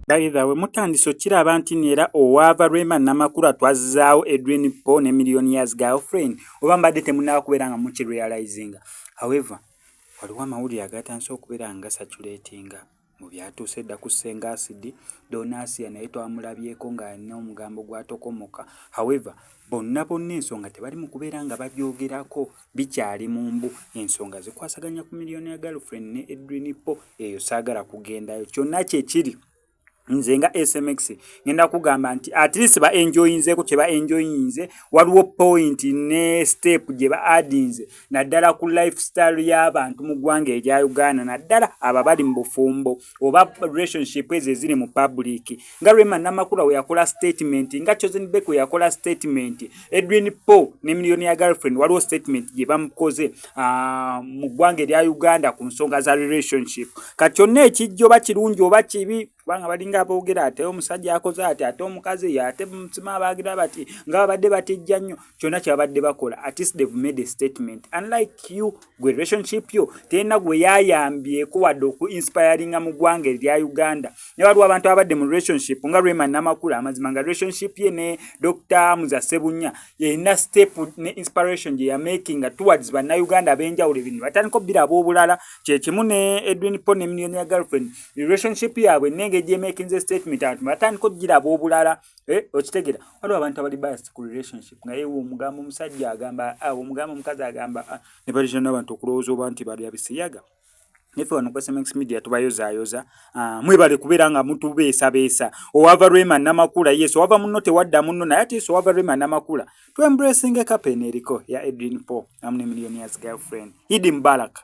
Dayitha we mutandise okiraba nti neera owaava Rema Namakula twazzaawo Edwin Paul ne Million Years Girlfriend oba mbadde temunnaba kubeera nga mukirealizinga. However, waliwo amawulire agatandise okubeera nga gasaculatinga. Mu byatuuse dda ku Ssenga Asidi, Donasiya naye twamulabyeko ng'alina omugambo gw'atokomoka. However, bonna bonna ensonga tebali mu kubeera nga bagyogerako, bikyali mu mbu. Ensonga zikwasaganya ku Millionaire Girlfriend ne Edwin Ppo, eyo saagala kugendayo. Kyonna kye kiri, nze nga SMX ngenda kugamba nti at least ba enjoyinzeeko kye ba enjoyinze, waliwo point ne step gye ba adinze naddala ku lifestyle y'abantu mu ggwanga erya uganda naddala abo abali mu bufumbo oba relationship ezo eziri mu public nga rema namakula we yakola statement nga chosen bek we yakola statement edwin po ne miliyoni ya girlfriend waliwo statement gye bamukoze ah, mu ggwanga erya uganda ku nsonga za relationship kati kyonna ekijja oba kirungi oba kibi kubanga balinga aboogera ate omusajja akoze ati ate omukazi ye ate mutima abaagira bati nga babadde batejja nnyo kyonna kyebabadde bakola atist they've made a statement unlike you gwe relationship yo tena gwe yayambyeko wadde oku inspiringa mu ggwanga erya uganda ne waliwo abantu ababadde mu relationship nga rema namakula amazima nga relationship ye ne dr muza sebunya erina step ne inspiration gye yamakinga towards bannauganda ab'enjawulo ebintu batandika obiraba obulala kyekimu ne edwin po ne millionaire girlfriend relationship yaabwe nenge gyemakinze statement abantu batandika okugiraba obulala eh, okitegera waliwo abantu abali biased ku relationship naye omugambo omusajja agamba ah, omugambo omukazi agamba ah, ne balija n'abantu okulowooza oba nti balya bisiyaga nefe wano ku sms media tubayozayoza ah, mwebale kubeera nga mutubeesabeesa owava rema namakula yes owava munno tewadda munno naye ati yes owava rema namakula to embracing a captain eriko ya edrin po amne millionaires girlfriend hidi mbalaka